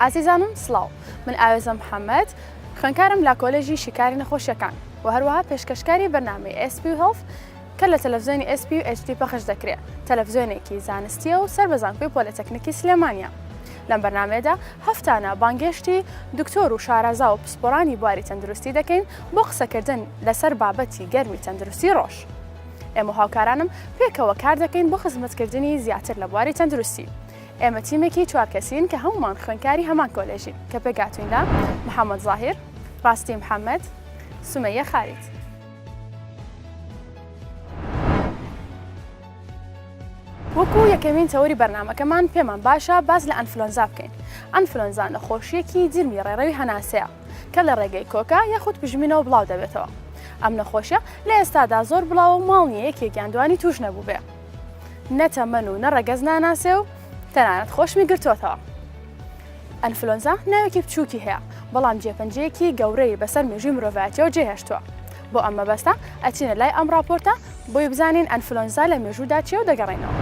ئازیزانم سڵاو من ئاوێزە محەمەد خوێنکارم لە کۆلێژی شیکاری نەخۆشیەکان و هەروەها پێشکەشکاری بەرنامەی ئێسپ و هێڵف کە لە تەلەڤزیۆنی ئێسپی و ئەچدی پەخش دەکرێت تەلەڤزیۆنێکی زانستیە و سەر بە زانکۆی پۆلەتەکنیکی سلێمانیا لەم بەرنمەیەدا هەفتانە بانگێشتی دکتۆر و شارەزا و پسپۆرانی بواری تەندروستی دەکەین بۆ قسەکردن لەسەر بابەتی گەرمی تەندروستی ڕۆژ. ئێمە و هاوکارانم پێکەوە کار دەکەین بۆ خزمەتکردنی زیاتر لە بواری تەندروستی. ئێمە تیمێکی چوار کەسین کە هەموومان خوێندکاری هەمان کۆلێژین، کە پێکهاتووین لە، محەمەد زاهیر، ڕاستی محەمەد، سومەیە خالید. وەکو یەکەمین تەوەری بەرنامەکەمان پێمان باشە باس لە ئەنفلۆنزا بکەین. ئەنفلۆنزا نەخۆشییەکی جرمی ڕێڕەوی هەناسەیە. کە لە ڕێگەی کۆکە یاخود پژمینەوە بڵاو دەبێتەوە ئەم نەخۆشیە لە ئێستادا زۆر بڵاوە و ماڵ نیە یەکێکیان دوانی توش نەبووبێ نە تەمەن و نە ڕەگەز ناناسێ و تەنانەت خۆشمی گرتوتەوە ئەنفلۆنزا ناوێکی بچووکی هەیە بەڵام جێپەنجەیەکی گەورەی بەسەر مێژوی مرۆڤایەتەوە جێهێشتووە بۆ ئەم مەبەستە ئەچینە لای ئەم راپۆرتە بۆی بزانین ئەنفلۆنزا لە مێژوودا چێ و دەگەڕێنەوە.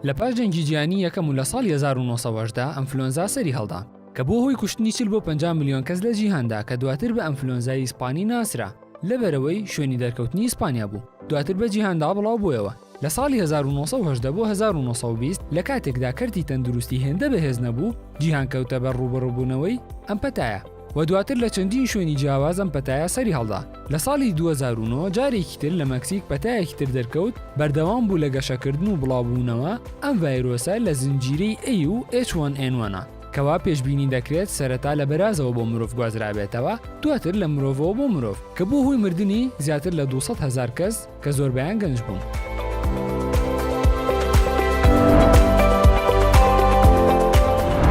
لە پاش جەنگی جیهانی یەکەم و لە ساڵی 1918 ئەنفلۆنزا سەری هەڵدا کە بووە هۆی کوشتنی چل بۆ پەنجا ملیۆن کەس لە جیهاندا کە دواتر بە ئەنفلۆنزای ئیسپانی ناسرا لەبەرئەوەی شوێنی دەرکەوتنی ئیسپانیا بوو دواتر بە جیهاندا بڵاو بوویەوە لە ساڵی 1970 بۆ 1920 لە کاتێکدا کەرتی تەندروستی هێندە بەهێز نەبوو جیهان کەوتە بەر ڕووبەڕووبوونەوەی ئەم پەتایە. و دواتر لە چەندین شوێنی جیاواز ئەم پەتایە سەری هەڵدا. لە ساڵی دوو هەزار و نۆ جارێکی تر لە مەکسیک پەتایەکی تر دەرکەوت، بەردەوام بوو لە گەشەکردن و بڵاوبوونەوە، ئەم ڤایرۆسە لە زنجیرەی A و H1N1 ە، کەوا پێشبینی دەکرێت سەرەتا لە بەرازەوە بۆ مرۆڤ گوازرابێتەوە، دواتر لە مرۆڤەوە بۆ مرۆڤ، کە بووە هۆی مردنی زیاتر لە دوو سەد هەزار کەس. کە زۆربەیان گەنج بوون.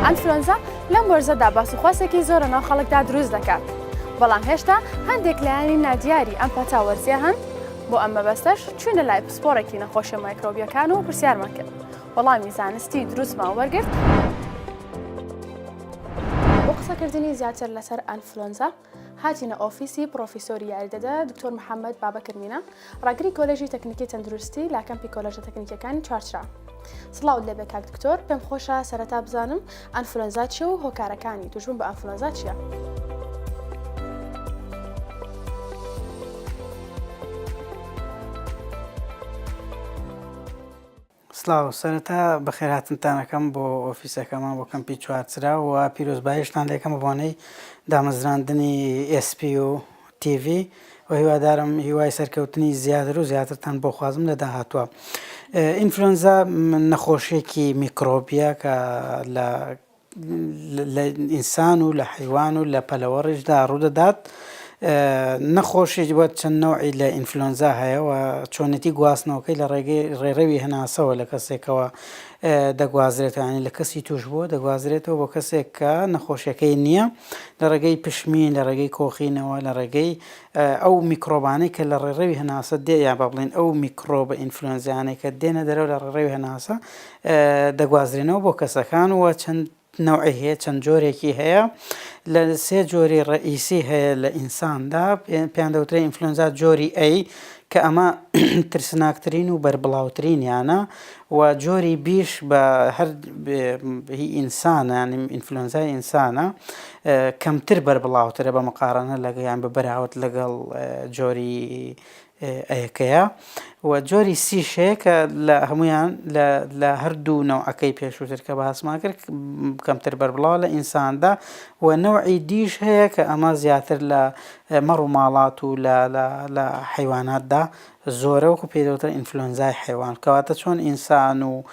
ئەنفلۆنزا لەم وەرزەدا باسوخواسێکی زۆرە ناو خەڵکدا دروست دەکات بەڵام هێشتا هەندێک لایەنی نادیاری ئەم پەتا وەرزیە هەن بۆ ئەم مەبەستەش چوینە لای پسپۆڕێکی نەخۆشە مایکرۆبیەکان و پرسیارمان کرد وەڵامی زانستی دروستمان وەرگرت بۆ قسەکردنی زیاتر لەسەر ئەنفلۆنزا هاتینە ئۆفیسی پڕۆفیسۆری یاریدەدە دکتۆر محەممەد بابەکر مینە، ڕاگری کۆلێژی تەکنیکی تەندروستی لە کەمپی کۆلێژە تەکنیکیەکانی چوارچرا. سڵاوت لێبێ کاک دکتۆر، پێم خۆشە سەرەتا بزانم ئەنفلۆنزا چیە و هۆکارەکانی توشبوون بە ئەنفلۆنزا چیە؟ سڵاو، سەرەتا بەخێرهاتنتان ئەکەم بۆ ئۆفیسەکەمان بۆ کەمپی چوارچرا و پیرۆزباییشتان لێکەم بە بۆنەی دامەزراندنی ئێس پی و تی ڤی و هیوادارم هیوای سەرکەوتنی زیاتر و زیاترتان بۆ خوازم لە داهاتووە. ئینفلۆنزا نەخۆشییەکی میکرۆبییە کە لە لە ئینسان و لە حەیوان و لە پەلەوەڕیشدا ڕوودەدات نەخۆشی وە چەند نەوعی لە ئینفلۆنزا هەیە و چۆنێتی گواستنەوەکەی لە ڕێگەی ڕێڕەوی هەناسەوە لە کەسێکەوە دەگوازرێتانی لە کەسی توش بووە دەگوازرێتەوە بۆ کەسێک کە نەخۆشیەکەی نییە لە ڕێگەی پشمین لە ڕێگەی کۆخینەوە لە ڕێگەی ئەو میکرۆبانەی کە لە ڕێڕەوی هەناسە دێ یا بە بڵێن ئەو میکرۆبە ئینفلۆنزیانەی کە دێنە دەرەوە لە ڕێڕەوی هەناسە دەگوازرێنەوە بۆ کەسەکان و چەند نەوعی هەیە چەند جۆرێکی هەیە لە سێ جۆری ڕئیسی هەیە لە ئینساندا پێیان دەوترێت ئینفلۆنزا جۆری ئەی کە ئەمە ترسناکترین و بەربڵاوترینیانە و جۆری بیش بە هەر ئینسانە ئینفلۆنزای ئینسانە کەمتر بەربڵاوترە بە مقارانە لەگەیان بە بەراوت لەگەڵ جۆری ەکەیە و جۆری سی ش هەیە کە لە هەمویان لە هەردوو نەوعەکەی پێشووتر کە باسمان کرد کەمتر بەربڵاو لە ئینساندا و نەوعی دیش هەیە کە ئەمە زیاتر لە مەڕ و ماڵات و لە حیواناتدا زۆرە وەکو پێدەوتە ئینفلۆنزای حیوان کەواتە چۆن ئینسان و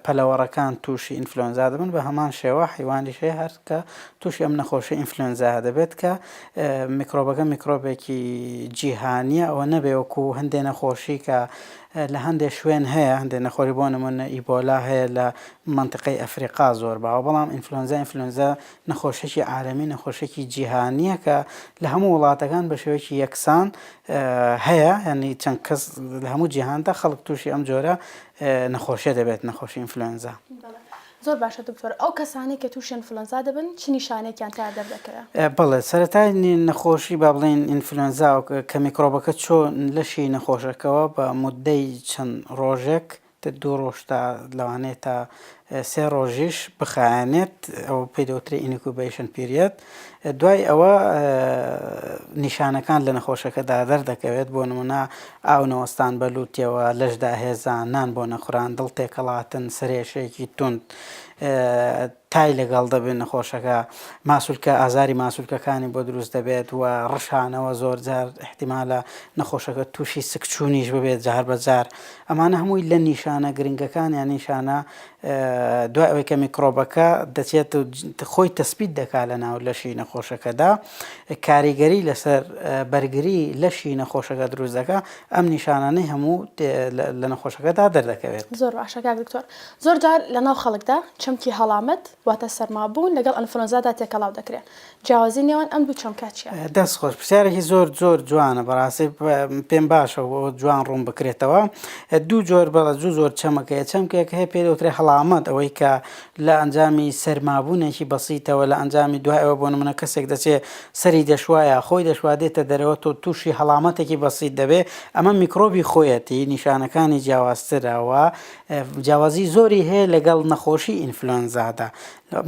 پەلەوەڕەکان تووشی ئینفلۆنزا دەبن بە هەمان شێوە حیوانیش هەیە هەرکە تووشی ئەم نەخۆشی ئینفلۆنزا دەبێت کە میکرۆبەکە میکرۆبێکی جیهانیە ئەوە نەبێ وەکو هەندێ نەخۆشی کە لە هەندێ شوێن هەیە هەندێ نەخۆری بۆ نمونە ئیبۆلا هەیە لە منتقەی ئەفریقا زۆر باوە بەڵام ئینفلۆنزا ئینفلۆنزا نەخۆشێکی عالەمی نەخۆشێکی جیهانیە کە لە هەموو وڵاتەکان بە شێوەیەکی یەکسان هەیە هەنی چەند کەس لە هەموو جیهاندا خەڵک تووشی ئەم جۆرە نەخۆشیە دەبێت نەخۆشی ئینفلۆنزا. زۆر باشە دکتۆر ئەو کەسانەی کە تووشی ئەنفلۆنزا دەبن چ نیشانەیەکیان تیا دەردەکەوێ؟ بەڵێ سەرەتای نەخۆشی با بڵێین ئینفلۆنزا کە میکڕۆبەکە چوون لەشی نەخۆشەکەوە بە موددەی چەند ڕۆژێک تر دوو ڕۆژ تا لەوانەیە تا سێ ڕۆژیش بخایەنێت ئەوە پێی دەوترێ ئینیکوبەیشن پیریەد دوای ئەوە نیشانەکان لە نەخۆشەکەدا دەردەکەوێت، بۆ نموونە ئاو نەوەستان بە لووتیەوە، لەش داهێزان، نان بۆ نەخوران، دڵ تێکەڵاتن، سەرئێشەیەکی توند تای لەگەڵ دەبێت نەخۆشەکە، ماسولکە ئازاری ماسولکەکانی بۆ دروست دەبێت و ڕشانەوە زۆرجار احتیمالە نەخۆشەکە تووشی سکچوونیش ببێت جار بەجار ئەمانە هەمووی لە نیشانە گرنگەکان یان نیشانە دوای ئەوەی کە میکرۆبەکە دەچێت و خۆی تەسبیت دەکات لەناو لەشی نەخۆشەکەدا، کاریگەری لەسەر بەرگری لەشی نەخۆشەکە دروست دەکات، ئەم نیشانانەی هەموو لە نەخۆشەکەدا دەردەکەوێت. زۆر باشە کاک دکتۆر، زۆرجار لەناو خەڵکدا چەمکی هەڵامەت واتە سەرمابوون لەگەڵ ئەنفلۆنزادا تێکەڵاو دەکرێت، جیاوازی نێوان ئەم دوو چەمکە چیە؟ دەست خۆش پرسیارێکی زۆر زۆر جوانە بەڕاستی پێم باشە و جوان ڕوون بکرێتەوە دوو جۆر بەڵە زوو زۆر چەمەکە هەیە چەمکێک هەیە پێ دەوترێ هەڵامەت ئەوەی کە لە ئەنجامی سەرمابوونێکی بەسیتەوە لە ئەنجامی دوای ئەوە بۆ نمونە کەسێک دەچێ سەری دەشوایە خۆی دەشوا دێتە دەرەوە تۆ تووشی هەڵامەتێکی بەسیت دەبێ ئەمە میکرۆبی خۆیەتی نیشانەکانی جیاوازترە و جیاوازی زۆری هەیە لەگەڵ نەخۆشی ئینفلۆنزادا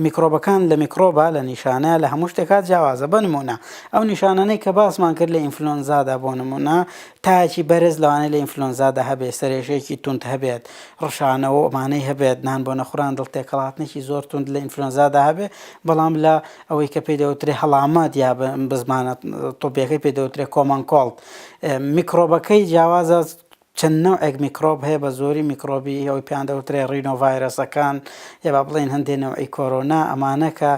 میکرۆبەکان لە میکرۆبە لە نیشانە لە هەموو شتێکا جیاوازە بە نموونە ئەو نیشانانەی کە باسمان کرد لە ئینفلۆنزادا بۆ نموونە تاکی بەرز لەوانەیە لە ئینفلۆنزادا هەبێت سەرێشەیەکی توند هەبێت ڕشانەوە و ئەمانەی هەبێت نان بۆ نەخوران دڵ تێکەڵاتنێکی زۆر توند لە ئینفلۆنزادا هەبێت بەڵام لە ئەوەی کە پێی دەوترێ هەڵامەت یا بزمانە تۆپیەکەی پێ دەوترێ کۆمەنکۆڵت میکرۆبەکەی جیاوازە چەند نەوعێک میکرۆب هەیە بە زۆری میکرۆبی ئەوەی پێیان دەوترێ ڕینۆ ڤایرەسەکان یە با بڵێین هەندێ نەوعی کۆرۆنا ئەمانە کە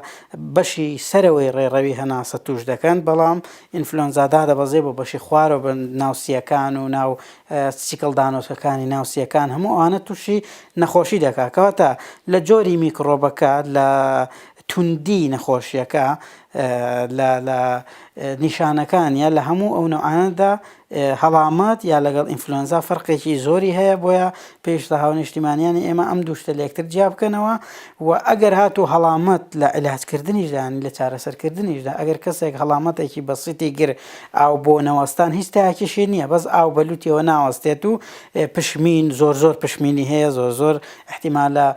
بەشی سەرەوەی ڕێڕەوی هەناسە تووش دەکەن بەڵام ئینفلۆنزا دادەبەزێ بۆ بەشی خوارەوە بە ناو سییەکان و ناو سیکڵ دانۆسەکانی ناو سییەکان هەموو ئەوانە تووشی نەخۆشی دەکات کەواتە لە جۆری میکڕۆبەکە لە توندی نەخۆشیەکە لە لە نیشانەکان یا لە هەموو ئەو نەوعانەدا هەڵامەت یا لەگەڵ ئینفلۆنزا فەرقێکی زۆری هەیە بۆیە پێشتە هاو نیشتیمانیانی ئێمە ئەم دوشتە لەکتر جیا بکەنەوە و ئەگەر هاتو هەڵامەت لە علاجکردنیشدان لە چارەسەرکردنیشدا ئەگەر کەسێک هەڵامەتێکی بەسیتی گر ئاو بۆ نەوەستان هیچ تاکیشی نییە بەس ئاو بەلوتیەوە ناوەستێت و پشمین زۆر زۆر پشمینی هەیە زۆر زۆر احتیمالە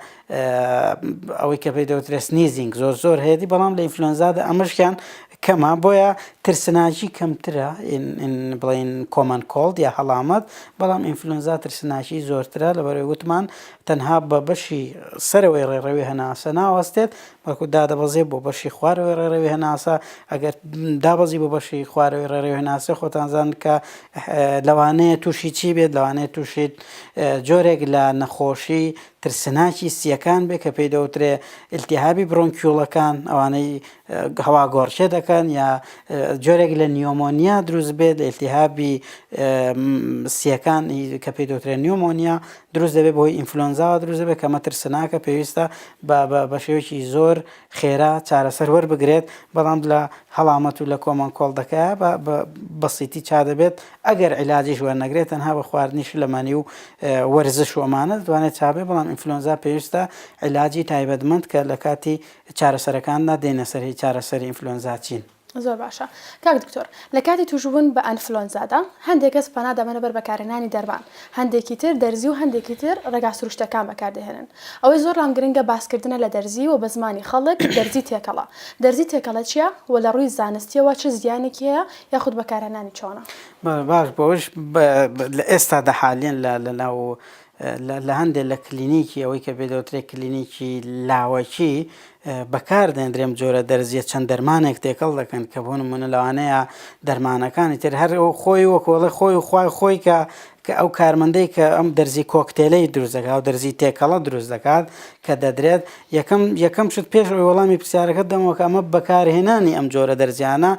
ئەوەی کە پێی دەوترێت سنیزینگ زۆر زۆر هەیەتی بەڵام لە ئینفلۆنزادا ئەمەشیان کەمە بۆیە ترسناکی کەمترە بڵین کۆمان کۆڵد یا هەڵامەت بەڵام ئینفلۆنزا ترسناکی زۆرترە لەبەرەوەی وتمان تەنها بە بەشی سەرەوەی ڕێڕەوی هەناسە ناوەستێت بەڵکو دادەبەزێ بۆ بەشی خوارەوەی ڕێڕەوی هەناسە ئەگەر دابەزی بۆ بەشی خوارەوەی ڕێڕەوی هەناسە خۆتانزان کە لەوانەیە تووشی چی بێت لەوانەیە تووشیت جۆرێک لە نەخۆشی ترسناکی سییەکان بێ کە پێی دەوترێ التهابی برۆنکیوڵەکان ئەوانەی هەوا گۆڕکێ دەکەن یا جۆرێک لە نیۆمۆنیا دروست بێت لە التهابی سییەکان کە پێی دەوترێ نیۆمۆنیا دروست دەبێت بۆی ئینفلۆنزاوە دروست دەبێت کە مەترسناکە پێویستە بە شێوەیەکی زۆر خێرا چارەسەر وەربگرێت بەڵام لە هەڵامەت و لە کۆمەڵ کۆڵ دەکە بە بەسیتی چا دەبێت ئەگەر عیلاجیش وەرنەگرێت تەنها بە خواردنی شلەمەنی و وەرزش و ئەمانە دەتوانێت چابێت، بەڵام ئینفلۆنزا پێویستە عیلاجی تایبەتمەند کە لە کاتی چارەسەرەکاندا دێنە سەر هی چارەسەری ئینفلۆنزا چین. زۆر باشە کاک دکتۆر لە کاتی توشبوون بە ئەنفلۆنزادا هەندێک کەس پەنا دەبەنە بەر بەکارهێنانی دەرمان هەندێکی تر دەرزی و هەندێکی تر ڕێگا سروشتەکان بەکاردەهێنن ئەوەی زۆر لام گرنگە باسکردنە لە دەرزی و بە زمانی خەڵک دەرزی تێکەڵە دەرزی تێکەڵە چیە و لە ڕووی زانستیەوە چ زیانێکی هەیە یاخود بەکارهێنانی چۆنە؟ باش بۆ ئەوەش لە ئێستادا حالیەن لە ناو لە هەندێک لە کلینیکی ئەوەی کە بێدەوترێ کلینیکی لاوەکی بەکار دەێندرێم جۆرە دەرزیە چەند دەرمانێک تێکەڵ دەکەن کە بۆ نمونە لەوانەیە دەرمانەکانی تر هەر خۆی وەکۆڵە خۆی خخوای خۆی کە کە ئەو کارمەندەی کە ئەم دەرزی کۆکتێلەی دروست دەکات، ئەو دەرزی تێکەڵە دروست دەکات کە دەدرێت، یەکەم یەکەم شت پێش ئەوەی وەڵامی پرسیارەکەت دەمەوە کە ئەمە بەکارهێنانی ئەم جۆرە دەرزییانە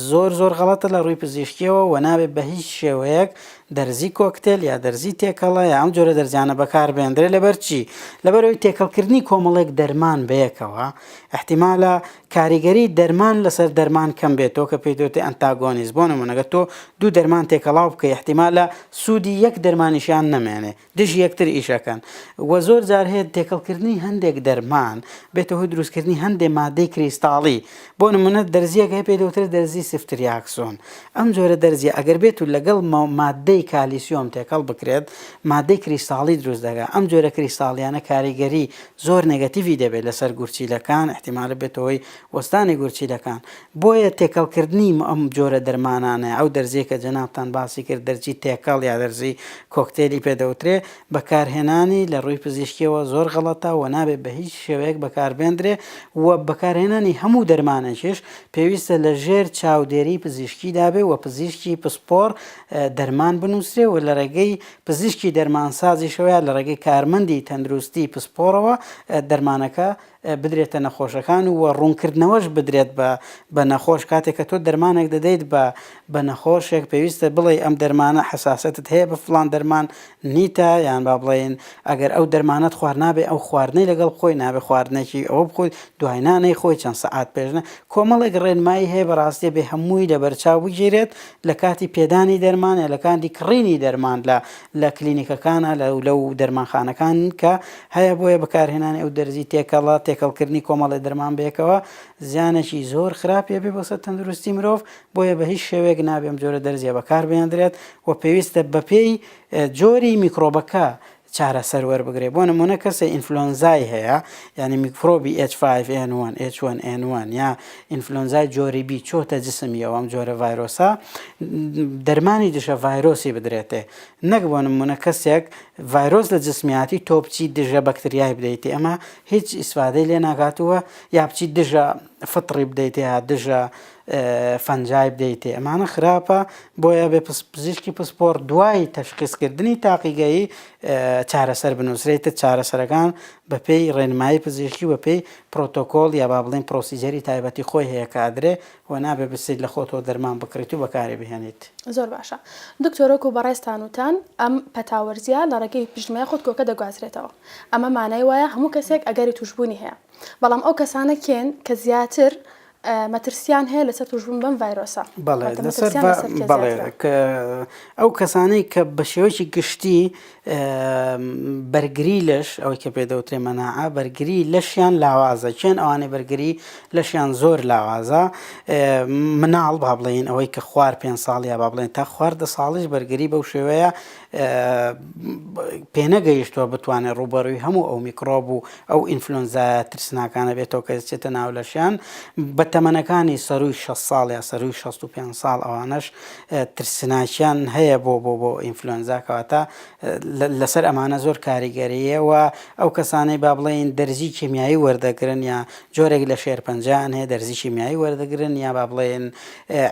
زۆر زۆر غەڵەتە لە ڕووی پزیشکییەوە و نابێت بە هیچ شێوەیەک دەرزی کۆکتێل یا دەرزی تێکەڵە یا ئەم جۆرە دەرزییانە بەکار بهێندرێت لەبەر چی؟ لەبەر ئەوەی تێکەڵکردنی کۆمەڵێک دەرمان بەیەکەوە ئیحتیمالە کاریگەری دەرمان لەسەر دەرمان کەم بێت تۆ کە پێیت وترێ ئەنتاگۆنیست بۆ نموونە گەر تۆ دوو دەرمان تێکەڵاو بکەی ئیحتیمالە سوودی یەک دەرمانیشیان نەمێنێ دژی یەکتر ئیش ئەکەن وە زۆر جار هەیە تێکەڵ کردنی هەندێک دەرمان بێتە هۆی دروست کردنی هەندێ مادەی کریستاڵی بۆ نموونە دەرزیەک هەیە پێیت وترێ دەرزی سفتریاکسۆن ئەم جۆرە دەرزیە ئەگەر بێت و لەگەڵ مادەی کالیسیۆم تێکەڵ بکرێت مادەی کریستاڵی دروست دەکات ئەم جۆرە کریستاڵیانە کاریگەری زۆر نێگەتیڤی دەبێت لەسەر گورچیلەکان ئیحتیمالە بێتە هۆی وەستانی گورچیلەکان بۆیە تێکەڵ کردنی ئەم جۆرە دەرمانانە ئەو دەرزیە کە جەنابتان باسی کرد دەرزی تێکەڵ یا دەرزی کۆکتێلی پێ دەوترێ بەکارهێنانی لە ڕووی پزیشکیەوە زۆر غەڵەتە و نابێت بە هیچ شێوەیەک بەکاربێندرێ و بەکارهێنانی هەموو دەرمانێکیش پێویستە لە ژێر چاودێری پزیشکیدا بێ و پزیشکی پسپۆڕ دەرمان بنووسرێ و لە ڕێگەی پزیشکی دەرمانسازیش وایە لە ڕێگەی کارمەندی تەندروستی پسپۆڕەوە دەرمانەکە بدرێتە نەخۆشەکان و ڕوونکردنەوەش بدرێت بە بە نەخۆش کاتێک کە تۆ دەرمانێک دەدەیت بە بە نەخۆشێک پێویستە بڵێی ئەم دەرمانە حەساسەتت هەیە بە فڵان دەرمان نیتە یان با بڵێین ئەگەر ئەو دەرمانەت خوارد نابێ ئەو خواردنەی لەگەڵ بخۆی نابێ خواردنێکی ئەوە بخۆی دوای نانەی خۆی چەند سەعات پێش نە کۆمەڵێک ڕێنمایی هەیە بەڕاستێ بێ هەمووی لەبەرچاو بگیرێت لە کاتی پێدانی دەرمان یا لە کاتی کڕینی دەرمان لە لە کلینیکەکانا لە لەو دەرمانخانەکان کە هەیە بۆیە بەکارهێنانی ئەو دەرزی تێکەڵە تێکەڵکردنی کۆمەڵی دەرمان بەیەکەوە زیانێکی زۆر خراپی ئەبێ بۆ سەر تەندروستی مرۆڤ بۆیە بە هیچ شێوەیەک نابێ ئەم جۆرە دەرزیە بەکاربهێندرێت و پێویستە بەپێی جۆری میکڕۆبەکە چارەسەر وەربگرێت بۆ نموونە کەسێ ئینفلۆنزای هەیە یانی میکفرۆبی ئێچ فایڤ ئێن وەن ئێچ وەن ئێن وەن یا ئینفلۆنزای جۆری بی چۆتە جسمی ئەو ئەم جۆرە ڤایرۆسە دەرمانی دژە ڤایرۆسی بدرێتێ نەک بۆ نموونە کەسێک ڤایرۆس لە جسمیاتی تۆ بچی دژە بەکتریای بدەیتی ئەمە هیچ ئیسفادەی لێ ناگاتووە یا بچی دژە فطڕی بدەیتێ دژە فەنجای بدەیتێ ئەمانە خراپە بۆیە بێ پزیشکی پسپۆڕ دوای تەشخیسکردنی تاقیگەیی چارەسەر بنووسرێتە چارەسەرەکان بەپێی ڕێنمایی پزیشکی و بەپێی پرۆتۆکۆڵ یا با بڵێن پرۆسیجەری تایبەتی خۆی هەیە کە ئەدرێ و نابێ بچیت لە خۆتەوە دەرمان بکڕیت و بەکاری بهێنیت. زۆر باشە دکتۆر وەکو بەڕێزتان وتان ئەم پەتا وەرزیە لە ڕێگەی پشتمەیە خۆتکۆکە دەگوازرێتەوە ئەمە مانای وایە هەموو کەسێک ئەگەری توشبوونی هەیە بەڵام ئەو کەسانە کێن کە زیاتر مەترسیان هەیە لەسەر توشبوون بەم ڤایرۆسە؟ بەڵێ لەسەر بەڵێ ئەو کەسانەی کە بە شێوەیەکی گشتی بەرگری لەش ئەوەی کە پێ دەوترێ مەناعە بەرگری لەشیان لاوازە چێن ئەوانەی بەرگری لەشیان زۆر لاوازە مناڵ با بڵێن ئەوەی کە خوار پێ ساڵ یا با بڵێن تا خواردە ساڵیش بەرگری بەو شێوەیە پێنەگەیشتووە بتوانێت ڕووبەڕووی هەموو ئەو میکڕۆب و ئەو ئینفلۆنزایە ترسناکانە بێتەوە کە دەچێتە ناو لەشیان بە تەمەنەکانی سەرووی شەست ساڵ یا سەرووی شەست و پێنج ساڵ ئەوانەش ترسناکیان هەیە بۆ بۆ بۆ ئینفلۆنزا کەواتە لەسەر ئەمانە زۆر کاریگەریە و ئەو کەسانەی با بڵێن دەرزی کیمیایی وەردەگرن یا جۆرێک لە شێرپەنجیان هەیە دەرزی کیمیایی وەردەگرن یا با بڵێن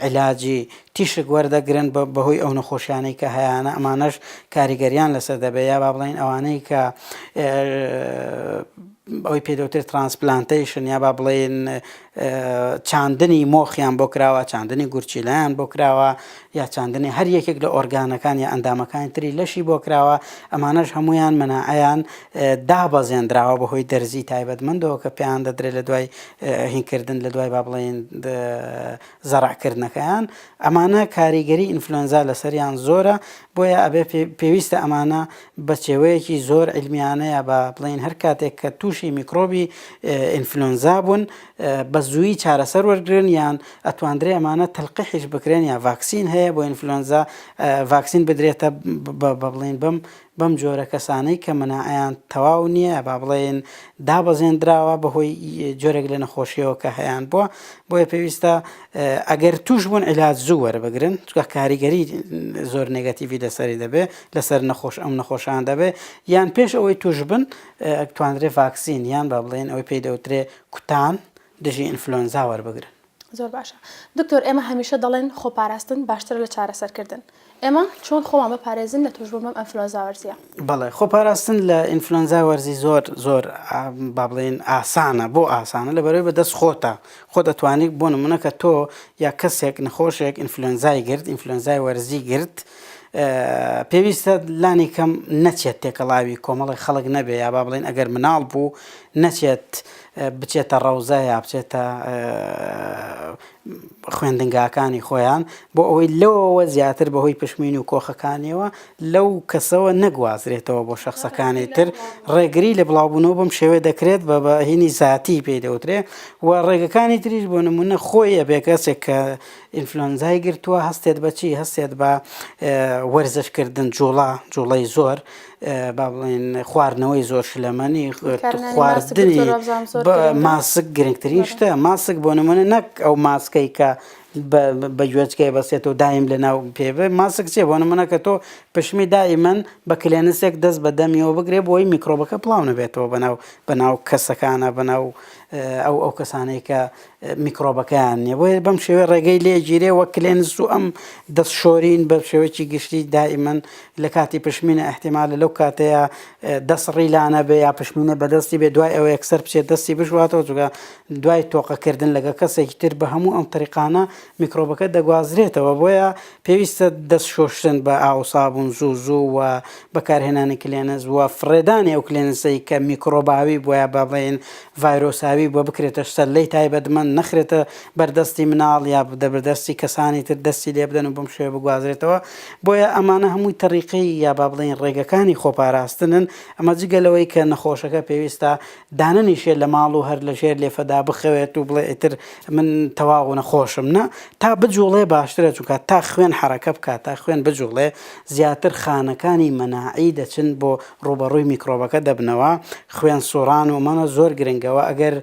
علاجی تیشک وەردەگرن بەهۆی ئەو نەخۆشیانەی کە هەیانە ئەمانەش کاریگەریان لەسەر دەبێت یا با بڵێن ئەوانەی کە ئەوی پێدەوتر ترانسپلانتەیشن یا با بڵێن چاندنی مۆخیان بۆ کراوە چاندنی گورچیلایان بۆ کراوە یا چاندنی هەر یەکێک لە ئۆرگانەکان یا ئەندامەکانی تری لەشی بۆ کراوە ئەمانەش هەمویان منعیان دابەزێنراوە بەهۆی دەرزی تایبەتمەندەوە کە پێیان دەدرێت لە دوای هینکردن لە دوای با بڵێن زەرەعکردنەکەیان، ئەمانە کاریگەری ئینفلۆنزا لەسەریان زۆرە، بۆیە ئەبێ پێویستە ئەمانە بە چێوەیەکی زۆر عیلمیانەیە با بڵێین هەر کاتێک کە تووشی میکرۆبی ئینفلۆنزا بوون بە زوویی چارەسەر وەرگرن یان ئەتواندرێ ئەمانە تەلقیحیش بکرێن یا ڤاکسین هەیە بۆ ئینفلۆنزا ڤاکسین بدرێتە بە بڵێن بەم بەم جۆرە کەسانەی کە مناعەیان تەواو نییە یا با بڵێین دابەزێندراوە بەهۆی جۆرێک لە نەخۆشیەوە کە هەیان بووە بۆیە پێویستە ئەگەر توش بوون عیلاج زوو وەربگرن چکە کاریگەری زۆر نگەتیڤی لەسەری دەبێ لەسەر نەخۆش ئەم نەخۆشان دەبێ یان پێش ئەوەی توش بن توانرێ ڤاکسین یان با بڵێن ئەوەی پێی دەوترێ کوتان دژی ئینفلۆنزا وەربگرن. زۆر باشە دکتۆر ئێمە هەمیشە دەڵێن خۆپاراستن باشترە لە چارەسەر کردن ئێمە چۆن خۆمان بپارێزین لە توشبوون بەم ئەنفلۆنزا وەرزیە؟ بەڵێ خۆپاراستن لە ئینفلۆنزا وەرزی زۆر زۆر با بڵێین ئاسانە بۆ ئاسانە لەبەرەوەی بە دەست خۆتە خۆت ئەتوانی بۆ نمونە کە تۆ یا کەسێک نەخۆشێک ئینفلۆنزای گرت ئینفلۆنزای وەرزی گرت پێویستە لانی کەم نەچێت تێکەڵاوی کۆمەڵی خەڵک نەبێ یا با بڵێن ئەگەر مناڵ بوو نەچێت بچێتە ڕەوزە یا بچێتە خوێندنگاکانی خۆیان بۆ ئەوەی لەوەوە زیاتر بەهۆی پشمین و کۆخەکانیەوە لەو کەسەوە نەگوازرێتەوە بۆ شخصەکانی تر ڕێگری لە بڵاوبوونەوە بم شێوێ دەکرێت بە بەهینی زیاتی پێی دەوترێ و ڕێگەکانی تریش بۆ نمونە خۆیە بێکەسێک کە ئینفلۆنزای گرتووە هەستێت بەچی هەستێت بە وەرزشکردن جوڵا جوڵەی زۆر با بڵێن خواردنەوەی زۆر شلەمەنی خواردنی ماسک گرنگترین شتە ماسک بۆ نمونە نەک ئەو ماسکەی کە بە گوێچکەی بەسێت و دایم لە ناو پێ ماسک چێ بۆ نمونە کە تۆ پشمی دائیمەن بە کلێنسێک دەست بە دەمیەوە بگرێ بۆی میکرۆبەکە پڵاو نەبێتەوە بەناو بەناو کەسەکانە بەناو ئەو ئەو کەسانەی کە میکرۆبەکەیان نیە بۆیە بەم شێوەی ڕێگەی لێگیرێ وە کلێنس و ئەم دەست شۆرین بە شێوەیەکی گشتی دائیمەن لە کاتی پشمینە احتیمالە لەو کاتەیە دەست ڕیلانە بێ یا پشمینە بەدەستی بێ دوای ئەوە یەکسەر بچێت دەستی بشواتەوە جگە دوای تۆقەکردن لەگە کەسێکی تر بە هەموو ئەم تریقانە میکرۆبەکە دەگوازرێتەوە بۆیە پێویستە دەست شۆشتن بە ئاوسابوون زوو زوو و بەکارهێنانی کلێنز وە فڕێدانی ئەو کلێنسەی کە میکرۆباوی بۆیە بەڵێن ڤایرۆساوی بووە بکرێتە سەرلێی تایبەتمەند، نەخرێتە بەر دەستی مناڵ یا بەر دەستی کەسانی تر دەستی لێ بدەن و بەم شێوەیە بگوازرێتەوە، بۆیە ئەمانە هەمووی تەریقەی یا با بڵێین ڕێگەکانی خۆپاراستنن، ئەمە جگە لەوەی کە نەخۆشەکە پێویستە دانەنیشێت لە ماڵ و هەر لە ژێر لێفەدا بخەوێت و بڵێ ئیتر من تەواو نەخۆشم نا تا بجوڵێ باشترە چونکە تا خوێن حەرەکە بکات تا خوێن بجوڵێ زیاتر خانەکانی مەناعی دەچن بۆ ڕووبەڕووی میکڕۆبەکە دەبنەوە خوێن سوڕان و مەمە زۆر گرنگە وە ئەگەر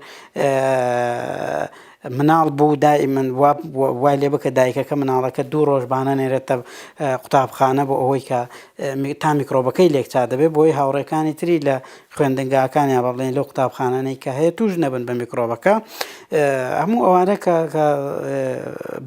مناڵ بوو دای من وای لێ بکە دایکەکە مناڵەکە دوو ڕۆژ بانە نێرێتە قوتابخانە بۆ ئەوەی کە تا میکرۆبەکەی لێکچا دەبێت بۆی هاوڕێکانی تری لە خوێندنگاکانیان ڕڵێن لەو قوتابخانانەی کە هەیە توش نەبن بە میکرۆبەکە هەموو ئەوانە کە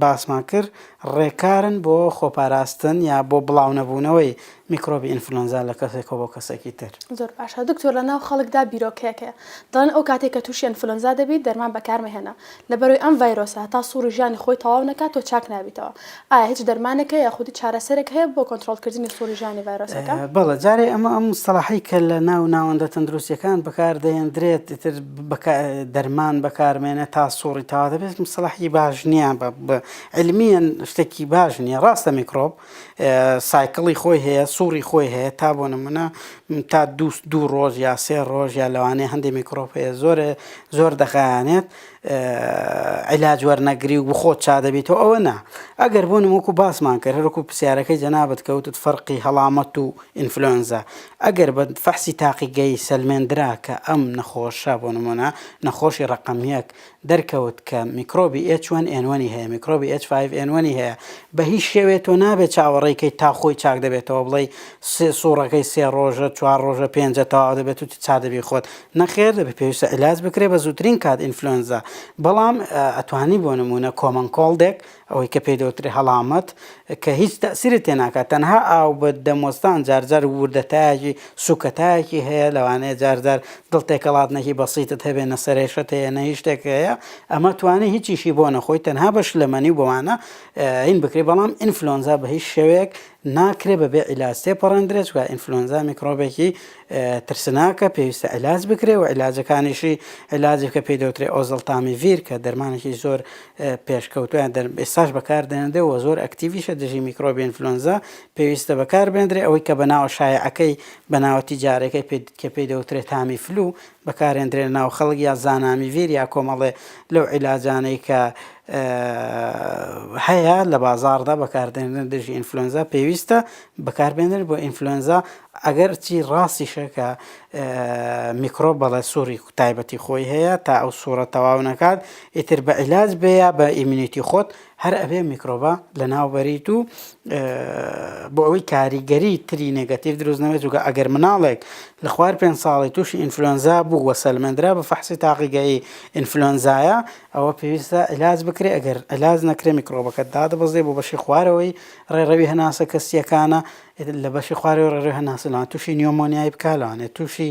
باسمان کرد ڕێکارن بۆ خۆپاراستن یا بۆ بڵاو نەبوونەوەی میکرۆبی ئینفلۆنزا لە کەسێکەوە بۆ کەسێکی تر. زۆر باشە دکتۆر لە ناو خەڵکدا بیرۆکەیەک هەیە دەڵێن ئەو کاتێک کە تووشی ئەنفلۆنزا دەبیت دەرمان بەکار مەهێنە لەبەرەوەی ئەم ڤایرۆسە هەتا سوڕی ژانی خۆی تەواو نەکات تۆ چاک نابیتەوە ئایا هیچ دەرمانێک هەیە یاخود هیچ چارەسەرێک هەیە بۆ کۆنتڕۆڵ کردنی سوڕی ژانی ڤایرۆسەکە؟ بەڵێ جارێ ئەمە ئەم مستەڵاحەی کە لە ناو ناوەندە تەندروستیەکان بەکار دەهێندرێت ئیتر دەرمان بەکار مێنێ تا سوڕی تەواو دەبێت مستەڵاحی باش نییە بە علمیەن شتێکی باش نییە ڕاستە میکرۆب سایکڵی خۆی هەیە سوڕی خۆی هەیە تا بۆ نمونە تا دووست دوو ڕۆژ یا سێ ڕۆژ یا لەوانەیە هەندێک میکرۆپ هەیە زۆرە زۆر دەخایانێت علاج وەرنەگری و بخۆت چا دەبیتەوە ئەوە نا ئەگەر بۆ نموکو باسمان کرد هەرکو پرسیارەکەی جەنابەت کەوتت فەرقی هەڵامەت و ئینفلۆنزا ئەگەر بە فەحسی تاقیگەی سەلمێندرا کە ئەم نەخۆشە بۆ نمونە نەخۆشی ڕقم یەک دەرکەوت کە میکرۆبی ئێچ وەن ئێن وەنی هەیە میکرۆبی ئێچ فایڤ ئێن وەنی هەیە بە هیچ شێوەیە تۆ نابێت چاوەڕێی کەیت تا خۆی چاک دەبێتەوە بڵێی سێ سوڕەکەی سێ ڕۆژە چوار ڕۆژە پێنجە تەواو دەبێت و چا دەبی خۆت نەخێر دەبێت پێویستە علاج بکرێت بە زووترین کات ئینفلۆنزا بەڵام ئەتوانی بۆ نموونە کۆمەنکۆڵدێک ئەوەی کە پێی دەوترێ هەڵامەت کە هیچ تەئسیرت تێ ناکات تەنها ئاو بە دەموەستان جار جار وردەتایەکی سوکەتایەکی هەیە لەوانەیە جار جار دڵ تێکەڵاتنێکی بەسیتت هەبێ نە سەرێشەت هەیە نە هیچ شتێک هەیە ئەمە توانی هیچیشی بۆ نەخۆی تەنها بە شلەمەنی و بەوانە هین بکرێ بەڵام ئینفلۆنزا بە هیچ شێوەیەک ناکرێ بەبێ عیلاج تێپەڕێندرێ چوار ئینفلۆنزا میکرۆبێکی ترسناکە پێویستە عیلاج بکرێ و عیلاجەکانیشی عیلاجێک کە پێی دەوترێ ئۆزەڵتامیڤیر کە دەرمانێکی زۆر پێشکەوتوویان دەرم ئێستاش بەکاردەهێنرێ و زۆر ئەکتیڤیشە دژی میکرۆبی ئینفلۆنزا پێویستە بەکاربێندرێ ئەوەی کە بەناوە شایعەکەی بەناوە تیجارەکەی پێ کە پێی دەوترێ تامی فلو بەکارهێندرێ لەناو خەڵک یا زانامیڤیر یا کۆمەڵێ لەو عیلاجانەی کە هەیە لە بازاڕدا بەکاردێنن دژی ئینفلۆنزا پێویستە بەکاربێنن بۆ ئینفلۆنزا ئەگەر چی ڕاستیشە کە میکرۆ بەڵێ سووری تایبەتی خۆی هەیە تا ئەو سوڕە تەواو نەکات ئیتر بە عیلاج بێ یا بە ئیمنیتی خۆت هەر ئەبێ میکرۆبە لە ناو بەریت و بۆ ئەوەی کاریگەری تری نێگەتیو دروست نەبێت جوگە ئەگەر مناڵێک لە خوار پێ ساڵی تووشی ئینفلۆنزا بوو وە سەلمەندرا بە فەحسی تاقیگەی ئینفلۆنزایە ئەوە پێویستە علاج بکرێ ئەگەر علاج نەکرێ میکرۆبەکە دادەبەزێ بۆ بەشی خوارەوەی ڕێڕەوی هەناسە کەسیەکانە لە بەشی خوارەوەی ڕێڕەوی هەناسە لەوانەیە تووشی نیۆمۆنیای بکات، لەوانەیە تووشی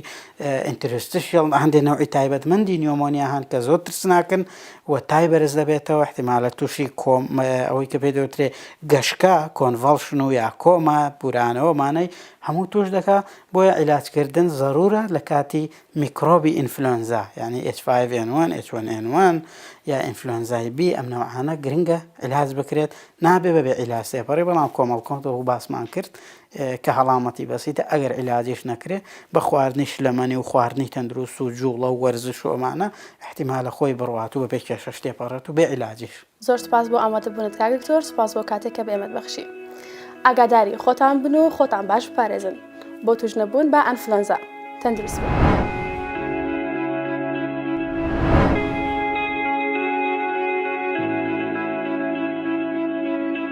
ئینتروستشیەڵ هەندێک نەوعی تایبەتمەندی نیۆمۆنیا هەن کە زۆر ترسناکن و تای بەرز دەبێتەوە، ئیحتیمالە تووشی کۆم ئەوەی کە پێی دەوترێ گەشکە، کۆنڤاڵشن و یا کۆما، بورانەوە، مانای هەموو تووش دەکات، بۆیە عیلاجکردن زەروورە لە کاتی میکرۆبی ئینفلۆنزا یانی ئێچ فایڤ ئێن وەن، ئێچ وەن ئێن وەن یا ئینفلۆنزای بی ئەم نەوعانە گرنگە عیلاج بکرێت نابێ بەبێ عیلاج تێپەڕی بەڵام کۆمەڵ کۆن وەکو باسمان کرد کە هەڵامەتی بەسیتە ئەگەر عیلاجیش نەکرێ بە خواردنی شلەمەنی و خواردنی تەندروست و جوڵە و وەرزش و ئەمانە ئیحتیمالە خۆی بڕوات و بەبێ کێشەش تێپەڕێت و بێ عیلاجیش زۆر سوپاس بۆ ئامادە بونت کاک دکتۆر سوپاس بۆ کاتێک کە بە ئێمەت بەخشی ئاگاداری خۆتان بن و خۆتان باش بپارێزن بۆ توش نەبوون بە ئەنفلەنزا تەندروست بن.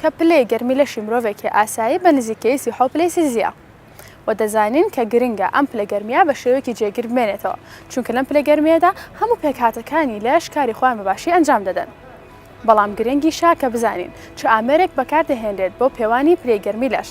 کە پلەی گەرمی لەشی مرۆڤێکی ئاسایی بە نزیکەیی سی و حەوت پلەی سیلزیە و دەزانین کە گرنگە ئەم پلە گەرمیە بە شێوەیەکی جێگیر بمێنێتەوە چونکە لەم پلە گەرمیەدا هەموو پێکهاتەکانی لەش کاری خۆیان بە باشی ئەنجام دەدەن بەڵام گرنگیشە کە بزانین چ ئامێرێک بەکاردەهێنرێت بۆ پێوانی پلەی گەرمی لەش.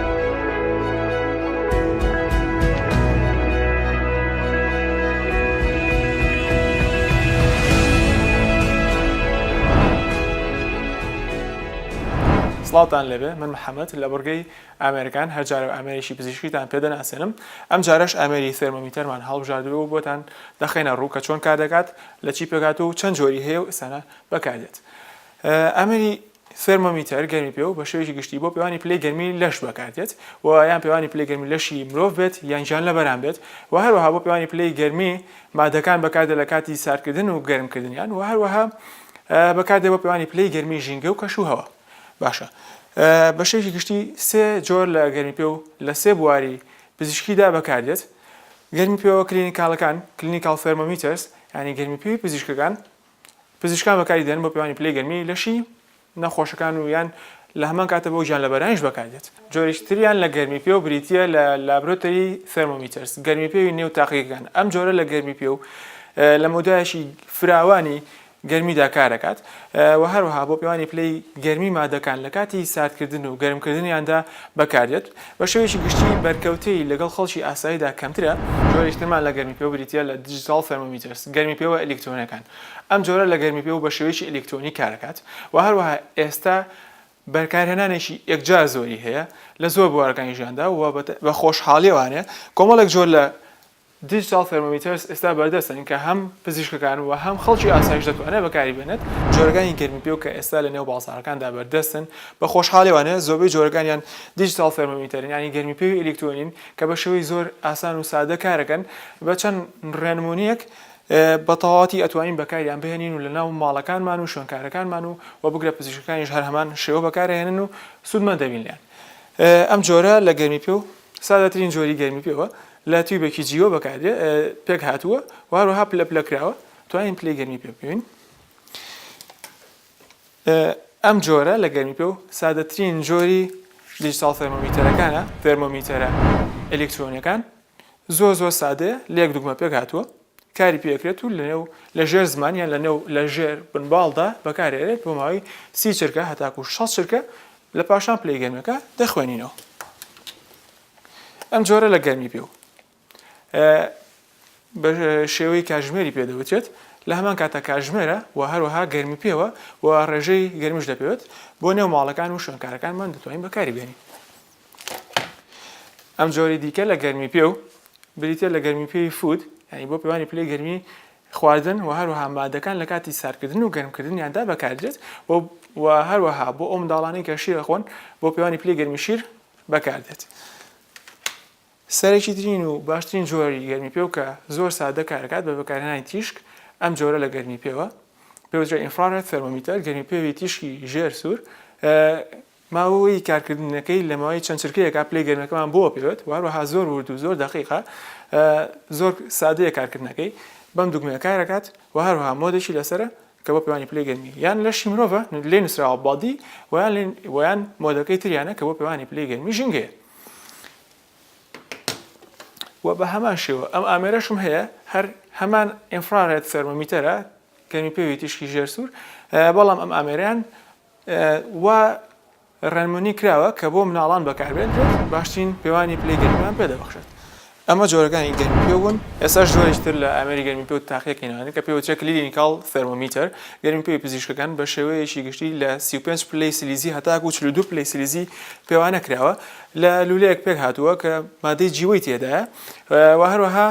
سڵاوتان لێبێ من محەممەد لە بڕگەی ئامریکان هەرجارە ئامریکی پزیشکیتان پێ دەناسێنم ئەم جارش ئامری سێرمەمیتەرمان هەڵبژاردرەوە بۆتان دەخینە ڕوو کە چۆن کار دەکات لە چی پێکات و چەند جۆری هەیە و ئسانە بەکاردێت ئامری ثێرمۆمیتەر، گەرمیپێو، بە شێوەیەکی گشتی بۆ پێوانی پلەی گەرمی لەش بەکاردێت و یان پێوانی پلەی گەرمی لەشی مرۆڤ بێت یان گیانلەبەران بێت و هەروەها بۆ پێوانی پلەی گەرمی مادەکان بەکاردێت لە کاتی ساردکردن و گەرمکردنیان و هەروەها بەکاردێت بۆ پێوانی پلەی گەرمی ژینگە و کەشوهەوا باشە بە شێوەیەکی گشتی سێ جۆر لە گەرمیپێو لە سێ بواری پزیشکیدا بەکاردێت گەرمی پێوە کلینیکاڵەکان کلینیکاڵ ثێرمۆمیتەرز یعنی گەرمی پێوی پزیشکەکان پزیشکان بەکاری دێنن بۆ پێوانی پلەی گەرمی لەشی نەخۆشەکان و یان لە هەمان کاتە بۆ گیانلەبەرانیش بەکار دێت. جۆرێکی تریان لە گەرمیپێو بریتییە لە لابرۆتەری ثێرمۆمیتەرز، گەرمیپێوی نێو تاقیگەکان، ئەم جۆرە لە گەرمیپێو لە مەودایەکی فراوانی گەرمیدا کاردەکات و هەروەها بۆ پێوانی پلەی گەرمی مادەکان لە کاتی ساردکردن و گەرمکردنیاندا بەکاردێت. بە شێوەیەکی گشتی بەرکەوتەی لەگەڵ خەڵکی ئاساییدا کەمترە. جۆرێکی ترمان لە گەرمیپێوە بریتییە لە Digital Thermometers، گەرمیپێوە ئەلیکترۆنیەکان. ئەم جۆرە لە گەرمیپێوە بە شێوەیەکی ئەلیکترۆنی کاردەکات و هەروەها ئێستا بەرکارهێنانێکی یەکجار زۆری هەیە لە زۆر بوارەکانی ژیاندا و بە خۆشحاڵییەوانێ کۆمەڵێک جۆر لە دیجیتاڵ تێرمۆمیتەرس ئێستا بەردەستن کە هەم پزیشکەکان و هەم خەڵکی ئاسایش دەتوانێت بەکاری بێنێت، جۆرەکانی گەرمی پێو کە ئێستا لە نێو بازاڕەکاندا بەردەستن بە خۆشحاڵیوانە زۆربەی جۆرەکانیان دیجیتاڵ تێرمۆمیتەرن یانی گەرمی پێوی ئەلیکترۆنین کە بە شێوەی زۆر ئاسان و سادە کارەکەن بە چەند ڕێنمونیەک بە تەواوەتی ئەتوانین بەکاریان بهێنین و لە ناو ماڵەکانمان و شوێنکارەکانمان و وە بگرە پزیشکەکانیش هەر هەمان شێوە بەکارئەهێنن و سودمەند دەبین لێیان ئەم جۆرە لە گەرمی پێو سادەترین جۆری گەرمی پێوە لە تیوبێکی جیوە بەکاردێ پێک هاتووە و هەروەها پلە پلە کراوە توانین پلەی گەرمی پێ بکەین ئەم جۆرە لە گەرمی پێ و سادەترین جۆری دیجیتال تەرمۆمیتەرەکانە تەرمۆمیتەرە ئەلکترۆنیەکان زۆر زۆر سادەیە لێک دوگمە پێک هاتووە کاری پێ ئەکرێت و لەنێو لەژێر زمان یان لەنێو لەژێر بنباڵدا بەکارێرێت بۆ ماوەی سی چرکە هەتاکو شەست چرکە لە پاشان پلەی گەرمەکە دەخوێنینەوە ئەم جۆرە لە گەرمی پێ و بە شێوەی کاژمێری پێدەوتێت لە هەمان کاتە کاژمێرە و هەروەها گەرمی پێوە و ڕێژەی گەرمیش دەپێت بۆ نێو ماڵەکان و شوێنکارەکانمان دەتوانین بەکاری بێنین ئەم جۆری دیکە لە گەرمی پێ و بریتە لە گەرمی پێوی فود ینی بۆ پێوانی پلەی گەرمی خواردن و هەروەها مادەکان لە کاتی ساردکردن و گەرمکردنیاندا بەکاردێت و هەروەها بۆ ئەو منداڵانی کە شیر خۆن بۆ پێوانی پلی گەرمی شیر بەکاردێت. سەرێکی ترین و باشترین جۆری گەرمی پێو کە زۆر سادە کارەکات بە بەکارهێنانی تیشک ئەم جۆرە لە گەرمی پێوە پێوترە ئینفرارێت تەرمۆمیتەر گەرمی پێوی تیشکی ژێر سوور ماوەی کارکردنەکەی لە ماوەی چەند چرکەیەکا پلەی گەرمیەکەمان بۆ ئەپێوێت وەهەروەها زۆر ورد و زۆر دەقیقە زۆر سادەیە کارکردنەکەی بەم دوگمەیە کارەکات وەهەروەها مۆدێکی لەسەرە کە بۆ پێوانی پلەی گەرمی یان لەشی مرۆڤە لێ نوسراوە بادی ویان ویان مۆدەکەی تریانە کە بۆ پێوانی پلەی گەرمی ژینگەیە و بە هەمان شێوە ئەم ئامێرەشم هەیە هەر هەمان ئینفرارێت سەرمەمیتەرە گەرمی پێوی تیشکی ژێر سوور بەڵام ئەم ئامێران وا ڕێنمونی کراوە کە بۆ مناڵان بەکاربێت و باشترین پێوانی پلەی گەرمیان پێ دەبەخشێت. ئەمە جۆرەکانی گەرمیپێو بوون، ئێستاش جۆرێکی تر لە ئامێری گەرمیپێو تاقیەکەینەوە کە پێوترێ کلینیکاڵ ثێرمۆمیتەر، گەرمیپێوی پزیشکەکان بە شێوەیەکی گشتی لە سی و پێنج پلەی سلیزی هەتاکوو چل و دوو پلەی سلیزی پێوانە کراوە، لە لوولەیەک پێک هاتووە کە مادەی جیوەی تێدایە و هەروەها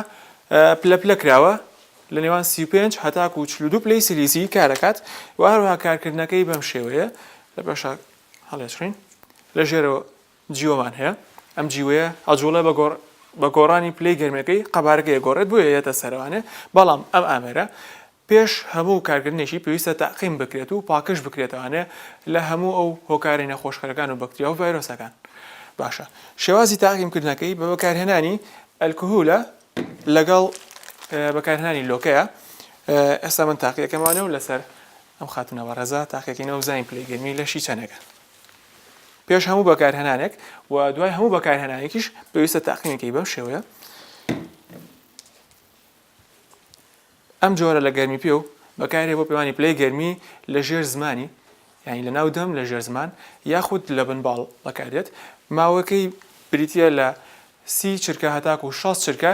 پلە پلە کراوە، لە نێوان سی و پێنج هەتاکوو چل و دوو پلەی سیلیزی کار دەکات و هەروەها کارکردنەکەی بەم شێوەیە لە پاشا هەڵێچڕین لە ژێرەوە جیوەمان هەیە ئەم جیوەیە ئەجوڵە بە گۆڕ بە گۆڕانی پلەی گەرمەکەی قەبارەکە ئەگۆڕێت بۆیە یەتە سەروانێ بەڵام ئەم ئامێرە پێش هەموو کارکردنێکی پێویستە تاقیم بکرێت و پاکش بکرێتەوانێ لە هەموو ئەو هۆکاری نەخۆشکەرەکان و بەکتریا و ڤایرۆسەکان باشە شێوازی تاقیمکردنەکەی بە بەکارهێنانی ئەلکهولە لەگەڵ بەکارهێنانی لۆکەیە ئێستا من تاقیەکەمانە و لەسەر ئەم خاتونە بە ڕێزا تاقیەکەینە و زانین پلەی گەرمی لەشی چەنەگە پێش هەموو بەکارهێنانێک و دوای هەموو بەکارهێنانێکیش پێویستە تاقیمەکەی بەم شێوەیە ئەم جۆرە لە گەرمیپێو بەکاردێت بۆ پێوانی پلەی گەرمی لە ژێر زمانی یانی لە ناو دەم لە ژێر زمان یاخود لە بن باڵ بەکاردێت ماوەکەی بریتیە لە سی چرکە هەتاکو شەست چرکە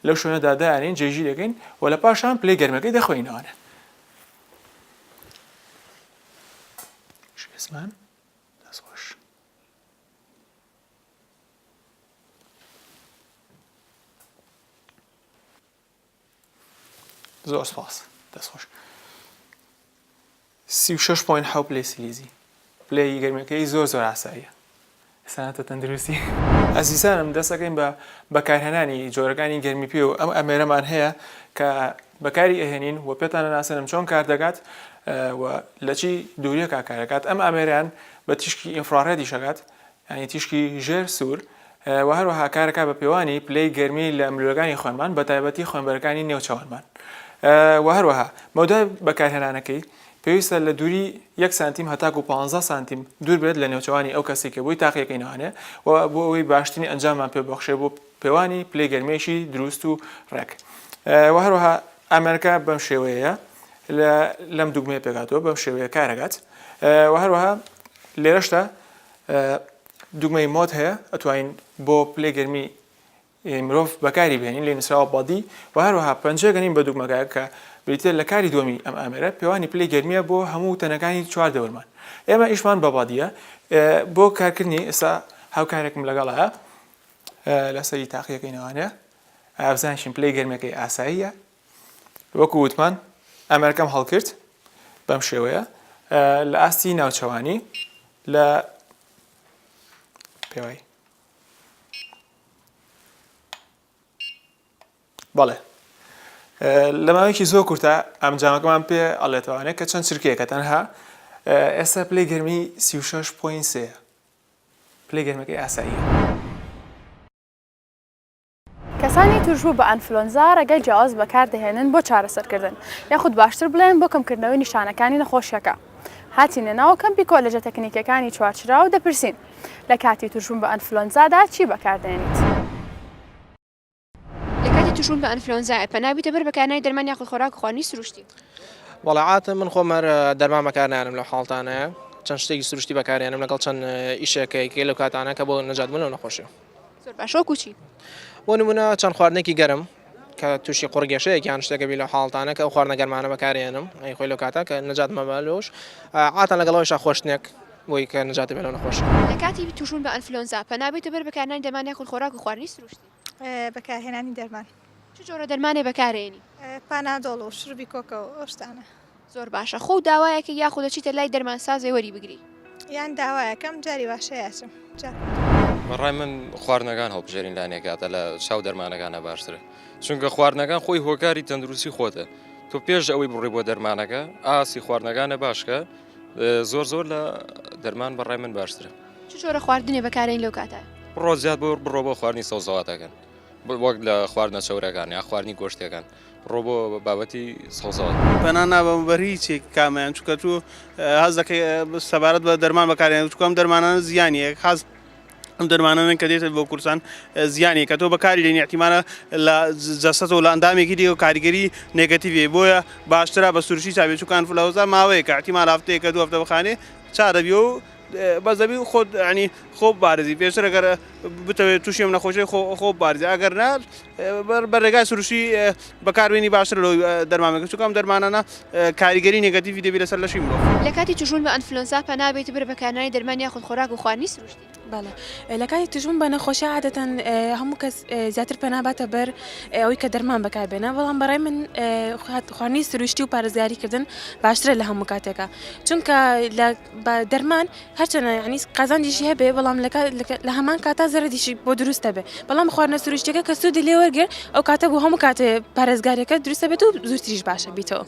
لەو شوێنەدا دانین جێگیر دەکەین و لە پاشان پلەی گەرمەکەی دەخوێنینەوانە زمان دەستخۆش زۆر سپاس دەست خۆش سی و شەش پۆین حەو پلەی سلیزی پلەی گەرمەکەی زۆر زۆر ئاساییە سانەتە تەندروستی ئەزیزانم دەستەکەین بە بەکارهێنانی جۆرەکانی گەرمی پێ و ئەم ئەمێرەمان هەیە کە بەکاری ئەهێنین و پێتانە ناسێنم چۆن کار دەکات و لەچی دووریەکە کارەکات ئەم ئامێران بە تیشکی ئینفراڕێدی شەکات یانی تیشکی ژێر سوور، و هەروەها کارەکات بە پێوانی پلەی گەرمی لە ملوولەکانی خوێنمان بە تایبەتی خوێنبەرەکانی نێوچەوانمان. و هەروەها مەودای بەکارهێنانەکەی پێویستە لە دووری یەک سانتیم هەتاکوو پانزە سانتیم دوور بێت لە نێوچەوانی ئەو کەسەی کە بۆی تاقییەکەی نوانێ و بۆ ئەوەی باشترین ئەنجاممان پێ ببەخشێ بۆ پێوانی پلەی گەرمییەکی درووست و ڕێک. و هەروەها ئامێرەکە بەم شێوەیەیە لە لەم دووگمەیە پێکهاتووە بەم شێوەیە کارەکات. و هەروەها لێرەشدا دوگمەی مۆد هەیە ئەتوانین بۆ پلەی گەرمی مرۆڤ بەکاری بێنین لێ نووسراوە بەدی و هەروەها پەنجە گەنین بە دوگمەکە کە بریتە لە کاری دووەمی ئەم ئامێرە پێوانی پلەی گەرمیە بۆ هەموو تەنەکانی چوار دەورمان ئێمە ئیشمان بە بەدیە بۆ کارکردنی ئێستا هاوکارێکم لەگەڵە لەسەری تاقیەکەی نەوانەیە ئابزانشین پلەی گەرمەکەی ئاساییە وەکو وتمان ئەمەرکەم هەڵکرد بەم شێوەیە لە ئاستی ناوچەوانی لە پێوای بەڵێ لە ماوەیەکی زۆر کورتە ئەم جامەکەمان پێ ئەڵێتوانێت کە چەند چرکەیەکە تەنها ئێستا پلی گەرمی 36.3 پلی گەرمەکەی ئاساییە. کەسانی تووشبوو بە ئەنفلۆنزا ڕێگای جیاواز بەکاردەهێنن بۆ چارەسەرکردن، یاخود باشتر بڵێم بۆ کەمکردنەوەی نیشانەکانی نەخۆشییەکە. هاتینە ناو کەمپی کۆلێجە تەکنیکییەکانی چوارچرا و دەپرسین، لە کاتی تووشبوون بە ئەنفلۆنزادا چی بەکاردێنیت؟ لە کاتی تووشبوون بە ئەنفلۆنزا پەنا بوویتە بەر بەکارهێنانی دەرمان یاخود خۆراک و خواردنی سروشتی؟ وەڵا عادەتەن من خۆم هەر دەرمان بەکارنایەنم لەو حاڵەتانەیا، چەند شتێکی سروشتی بەکارهێنم لەگەڵ چەند ئیشێکەی لەو کاتانە کە بۆ نەجاتبوون لەو نەخۆشییە. زۆر باش وەکو چی؟ بۆ نمونە چەند خواردنێکی گەرم کە تووشی قڕگەشەیەک یان شتێکە بی لە حاڵتانە کە ئەو خواردنە گەرمانە بەکارێنم ئەی خۆی لەو کاتە کە نەجات مەبە لۆش عاتان لەگەڵەوەیشا خۆشتنێک بۆی کە نەجاتی بێ لەو نەخۆشی. لە کاتی تووشبوون بە ئەنفلۆنزا پەنابەیتە بەر بەکارهێنانی دەرمانی یاخود خۆراک و خواردنی سروشتی. بەکارهێنانی دەرمان. چ جۆرە دەرمانێ بەکارێنی؟ پانادۆڵ و شروبی کۆکە و ئەو شتانە. زۆر باشە خۆو داوایەکە یاخود دەچیتە لای دەرمانسازێ وەری بگری؟ یان داوایەکەم جاری واشەیە ئەچم جا. بەڕای من خواردنەکان هەڵبژێرین لانێ کاتە لە چاو دەرمانەکانە باشترە چونکە خواردنەکان خۆی هۆکاری تەندروستی خۆتە تۆ پێش ئەوەی بڕی بۆ دەرمانەکە ئاسی خواردنەکانە باشکە زۆر زۆر لە دەرمان بەڕای من باشترە چ جۆرە خواردنێ بەکارین لەو کاتە؟ بڕۆ زیاد بۆ بڕۆ بۆ خواردنی سەوزەواتەکان وەک لە خواردنە چەورەکان یان خواردنی گۆشتیەکان بڕۆ بۆ بابەتی سەوزەوات. پەنا نابەمە بەر هیچ یەک کامەیان چونکە تو هەست دەکەی سەبارەت بە دەرمان بەکاریان چونکە ئەم دەرمانانە زیانی هەیە خاس ئەم دەرمانانەن کە دێتە بۆ کورسان زیانی کە تۆ بەکاری دێنی احتیمالە لە جەستەتەوە لە ئەندامێکی دیگە کاریگەری نێگەتیڤی هەیە بۆیە باشترە بە سروشتی چا بێ چونکە ئەنفلەوەنزا ماوەیەکە احتیمال هەفتەیەکە دوو هەفتە بخانێ چا دەبی و بەس دەبی خۆت یانی خۆ بارزی پێشتر ئەگەر بتەوێت تووشی ئەم نەخۆشی خۆ خۆ بارزی ئەگەر نا بەرێگای سروشی بەکاربیێنی باشتر لەوەی دەرمامێک چکم دەرمانانە کاریگەری نگەتیوی دەبی لەسەر لەشی مرۆ لە کاتی توشبوون بە ئەنفلۆنزا پەنابێت بەر بەکارنانی دەرمان یاخود خۆراک و خواردنی سروشتی. بەڵێ لە کاتی توشبوون بە نەخۆشی عادەتەن هەموو کەس زیاتر پەناباتە بەر ئەوەی کە دەرمان بەکاربێنە بەڵام بەڕای من خواردنی سروشتی و پارێزگاریکردن باشترە لە هەموو کاتێکە چونکە لە بە دەرمان هەرچەنە یعنی قازانجیشی هەبێ بەڵام لە هەمان کاتا زەرەدیشی بۆ دروست دەبێ بەڵام خواردنە سروشتەکە کە سوودی لێوەرگێ ئەو کاتە بۆ هەموو کاتێ پارێزگارەکە دروستە بێت و زووتریش باشە بیتەوە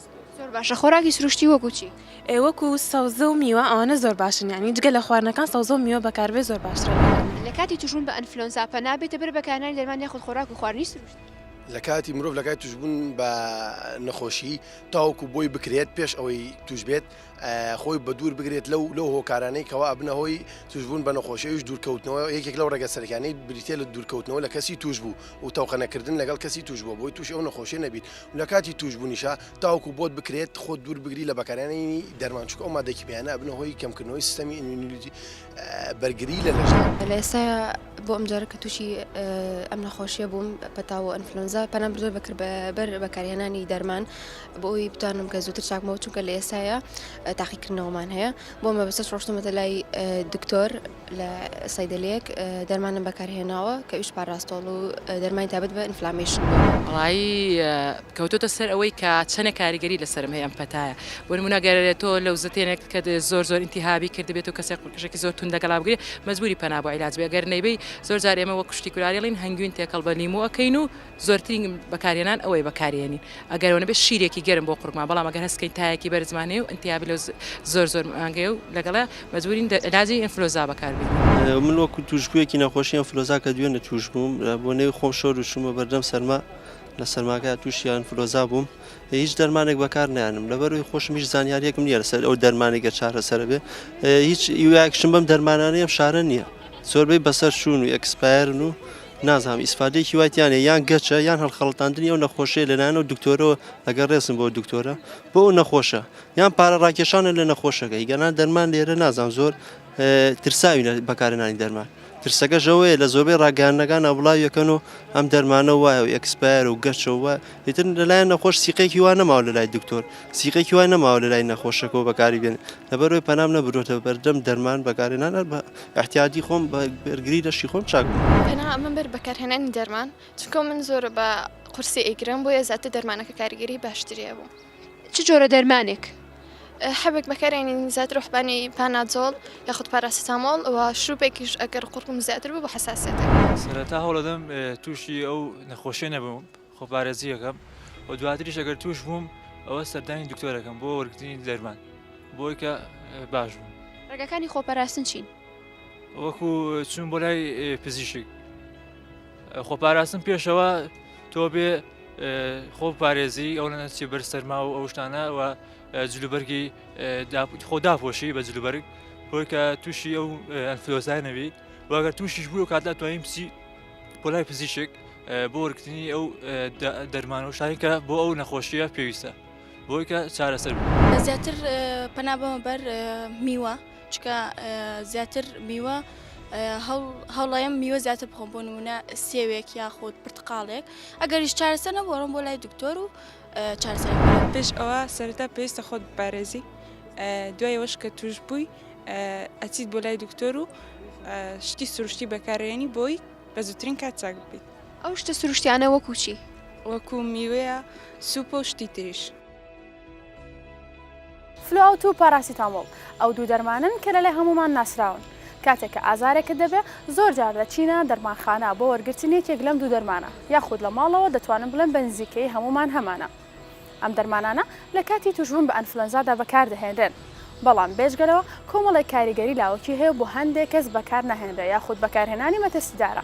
باشە خۆراکی سروشتی وەکوچی ئێوەکو سەوزە و میوە ئەوانە زۆر باشن ینی جگە لە خواردنەکان سەوزە و میوە بەکاربێ زۆر باشترە لە کاتی توشبوون بە ئەنفلۆنزا پەنابێتە بەر بەکارنانی دەرمان یاخود خۆراک و خواردنی سروشتی. لە کاتی مرۆڤ لە کاتی توشبوون بە نەخۆشی تاوەکو بۆی بکرێت پێش ئەوەی توش بێت خۆی بەدوور بگرێت لەو لەو هۆکارانەی کەوا ئەبنە هۆی توشبوون بە نەخۆش ئەوش دوورکەوتنەوە یەکێک لەو ڕێگە سەرکانەی بریتە لە دوورکەوتنەوە لە کەسی توش بوو و تەوقەنەکردن لەگەڵ کەسی توش بووە بۆی توش ئەو نەخۆشی نەبیت لە کاتی توشببوونیشە تاوکو بۆت بکرێت خۆ دوور بگری لە بەکارانی دەرمانچووک ئەو مادەکیپیانە ئەبنە هۆی کەمکردنەوەی سیستەمی ئینیلیتی بەرگری لە لەشدا. لە ئێستایا بۆ ئەم جارە کە تووشی ئەم نەخۆشیە بووم پەتا و ئەنفلۆنزا پەنام بردوە بەکرد بەر بەکارهێنانی دەرمان بۆ ئەوی بتوانم کە زووتر چاکمەوە چونکە لە ئێستایا تاقیکردنەوەمان هەیە بۆ مە بەسەر ڕۆشتمەتە لای دکتۆر لە سایدلەک دەرمانم بەکارهێناوە کە ویش پاراستۆڵ و دەرمانی تابەت بە ئینفلامیشن ڕایی کەوتۆتە سەر ئەوەی کە چەنێ کاریگەری لەسەرم هەیە ئەم پەتایە بۆ نمونە گەر تۆ لەوزەتێنێک کە زۆر زۆر ئینتیهابی کردبێت و کەسێک قژێکی زۆر توند لەگەڵا بگرێ مەجبوری پەنا بۆ عیلاج بێ گەر نەیبەی زۆر جار ئێمە وەک کوشتی کولاری ئەڵێن هەنگوین تێکەڵ بە لیمۆ ئەکەین و زۆرترین بەکارهێنان ئەوەیە بەکاریێنین ئەگەر ئەوە نەبێ شیرێکی گەرم بۆ قورگمان بەڵام ئەگەر هەست کەین تایەکی بەرزمان هەیە و ئینتیهابی لەوز زۆر زۆر مانگەیە و لەگەڵە مەجبورین عیلاجی ئینفلۆزا بەکار بێنین. من وەکو توشبویەکی نەخۆشی ئینفلۆزا کە دوێنێ توش بووم بۆ نەوی خۆم شۆر و چومە بەردەم سەرما، لە سەرماکە توشی ئەنفلۆزا بووم هیچ دەرمانێک بەکار نیانم لەبەروی خۆشم هیچ زانیاریەکم نیە لەسەر ئەو دەرمانێکە چارەسەر بێ هیچ ئیواکشم بەم دەرمانانەیەم شارە نییە زۆربەی بەسەر شوون و ئەکسپایرن و نازام ئیسفادێکی وایتیانە یان گەچە یان هەڵخەڵتاندنی ئەو نەخۆشیە لەلایەن و دکتۆرەوە ئەگەر ڕێزم بۆ دکتۆرە بۆ ئەو نەخۆشە یان پارە ڕاکێشانە لە نەخۆشەکە هیگەنا دەرمان لێرە نازان زۆر ترساوی لە بەکارهێنانی دەرمان، ترسەکەش ئەوەیە لە زۆربەی ڕاگەیاندنەکان نابڵاوی ئەکەن و ئەم دەرمانە وایە و ئێکسپایەرە و گەشە و وایە، ئیتر لەلایەن نەخۆش سیقێکی وا نەماوە لەلای دکتۆر، سیقێکی وا نەماوە لەلای نەخۆشەکەوە بەکاری بێنێ، لەبەرئەوەی پەنام نەبردووەتە بەردەم دەرمان بەکارهێنان هەر بە ئیحتیاتی خۆم بە بەرگری لەشی خۆم چاک بووم. پەنا ئەمەم بەر بەکارهێنانی دەرمان، چونکە من زۆر بە قورسی ئەیگرم بۆیە زیاتر دەرمانەکە کاریگەری باشتری هەبوو. چ جۆرە دەرمانێک حەبێک بەکارێنین زیاتر ڕحبانی پانادۆڵ یاخود پاراسیتامۆڵ و شروپێکیش ئەگەر قڕکم زیاتر بوو بە حساسێت سەرەتا هەوڵەدەم تووشی ئەو نەخۆشیێ نەبووم خۆپارێزیەکەم و دواتریش ئەگەر توش بووم ئەوە سەردانی دکتۆرەکەم بۆ وەرگتنی دەرمان بۆی کە باش بوو ڕێگەکانی خۆپەراستن چین وەکو چون بۆ لای پزیشک خۆپاراستن پێشەوە تۆ بێ خۆ پارێزی ئەو نەچی بەر سەرما و ئەو شتانە و جلوبەرگی خۆ داپۆشی بە جلوبەرگ بۆی کە تووشی ئەو ئەنفلۆزای نەبی واگەر تووشیش بوو کاتدا توانیم بچی پۆلای پزیشک بۆ وەرگتنی ئەو دەرمان و شتانی کە بۆ ئەو نەخۆشیە پێویستە بۆی کە چارەسەر بوو زیاتر پەنا بەمە بەر میوە. چکە زیاتر میوە هەوڵایم میوە زیاتر بخۆم بۆ نمونە سێوێک یاخود پرتقالێک ئەگەریش چارەسەر نەبووڕم بۆ لای دکتۆر و چارسەر پێش ئەوە سەرتا پێویستە خۆت بپارێزی دوایەوەش کە توش بووی ئەچیت بۆ لای دکتۆر و شتی سروشتی بەکارێنی بۆی بە زووترین کات چاک بکەیت ئەو شتە سروشتیانە وەکوچی وەکو میوەیە سوپۆ شتی تریش فلو ئاوت و پاراسیتامۆڵ ئەو دوو دەرمانەن کە لەلای هەموومان ناسراون کاتێک کە ئازارێکت دەبێ زۆر جار دەچینە دەرمانخانە بۆ وەرگرتن یەکێک لەم دوو دەرمانە یاخود لە ماڵەوە دەتوانم بڵێم بە نزیکەیی هەموومان هەمانە ئەم دەرمانانە لە کاتی توشبوون بە ئەنفلەنزادا بەکاردەهێنرێن بەڵام بێجگەلەوە کۆمەڵێک کاریگەری لاوەکی هەیە بۆ هەندێک کەس بەکارناهێنرێ یاخود بەکارهێنانی مەترسیدارە.